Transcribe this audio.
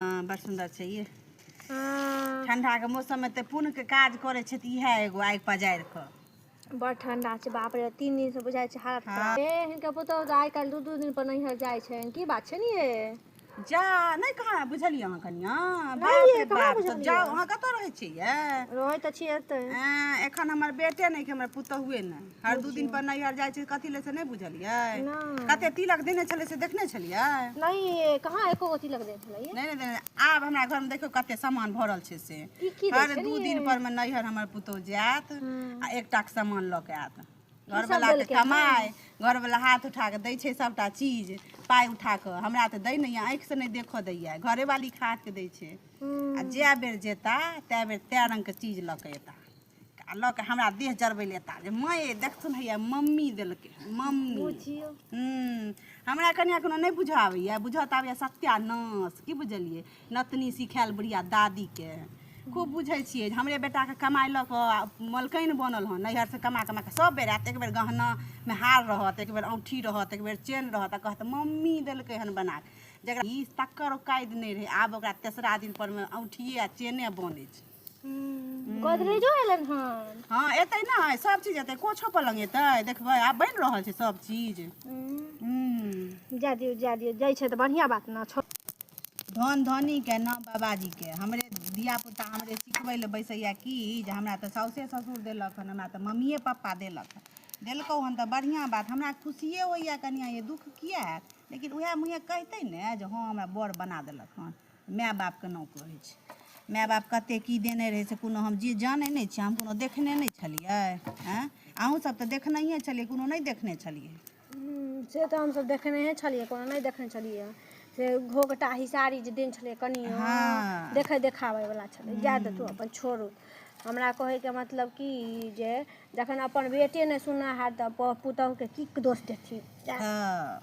हँ बड़ सुन्दर छै ये हँ ठण्डाके मौसममे तऽ पुण्यके काज करै छै तऽ इएह एगो आगि पजारि कऽ बड़ ठंडा छै बाप रे तीन दिन से बुझाय छै हालत खराब ए हिनका पुतहु तऽ आइ काल्हि दू दू दिन पर नैहर जाइ छै की बात छै ने ये जा नहि कहाँ बुझलियै अहाँ कनिया बाप नहि, रे कहाँ बाप तऽ बुझलियै? जाउ अहाँ कतऽ रहै छियै ये रहै तऽ छियै एतै आ, एखन हमर बेटे नहि कि हमर पुतहुए नहि हर दू दिन पर नैहर जाइ छै कथी ले से नहि बुझलियै नहि। कते तिलक देने छलै से देखने छलियै नहीं ये कहाँ एको गो तिलक दे छलै ये नहि नहि देने आब हमरा घरमे देखियौ कते सामान भरल छै से ई की दै हर छै दू रे? दिन पर मे नैहर हमर पुतोह जायत आ एकटा के सामान लऽ के आयत घरवला के देलकै कमाय घरवला हाथ उठा के दै छै सभटा चीज पाइ उठा कऽ हमरा तऽ दै नहि आँखि से नहि देखऽ दैया घरेवाली खा के दै छै हम्म, आ जए बेर जेता तए बेर तए रंग के चीज लऽ के एता आ लऽ के हमरा देह जरबै ले एता जे माय देखथुन हैया मम्मी देलकै मम्मी बुझियो हम्म, हमरा कनिया कोनो नहि बुझऽ आबैया बुझऽ तऽ आबैया सत्यानाश की बुझलियै नतनी सिखायल बुढ़िया दादीके खूब बुझै छियै जे हमरे बेटाके कमाइ लऽ कऽ आ मलकनि बनल हँ नैहरसँ कमा कमा कऽ सभ बेर आयत एक बेर गहनामे हार रहत एक बेर औँठी रहत एक बेर चेन रहत आ कहत मम्मी देलकै हन बना कऽ जकरा ई तकर औकाति नहि रहै आब ओकरा तेसरा दिनपरमे औँठिए आ चेने बनै छै गोदरेजो एलन हन हाँ एतै नहि सब चीज एतै कोछो पलंग एतै देखबै आब बनि रहल छै सब चीज हम्म, जा दियौ जा दियौ जाइ छै तऽ बढ़िया बात ने छो धन धनी के नाम बाबाजी के हमरे धिया पुता हमरे सिखबै लए बैसैया की जे हमरा तऽ साउसे ससुर देलक हन हमरा तऽ मम्मिए पप्पा देलक हन देलकौ हन तऽ बढ़िया बात हमरा खुशिए होइया कनिया ये दुख किया हैत लेकिन उएह मुँहे कहितै ने जे हँ हमरा बड़ बना देलक हन माय बाप केना कहै छै माय बाप कते की देने रहै से कोनो हम जे जानै नहि छियै हम कोनो देखने नहि छलियै आँय अहूँ सब तऽ देखनहिये छलियै कोनो नहि देखने छलियै हम्म, से तऽ हमसभ देखनेहे छलियै कोनो नहि देखने छलियै से घोघटा हिसारी जे देन छलै कनियो हँ। देखे देखाबै वाला छलै जाए दे तू अपन छोड़ू हमरा कहैके मतलब कि जे जखन अपन बेटे नहि सुनना हार तऽ प- पुतहुके की दोष देथिन जाए हँ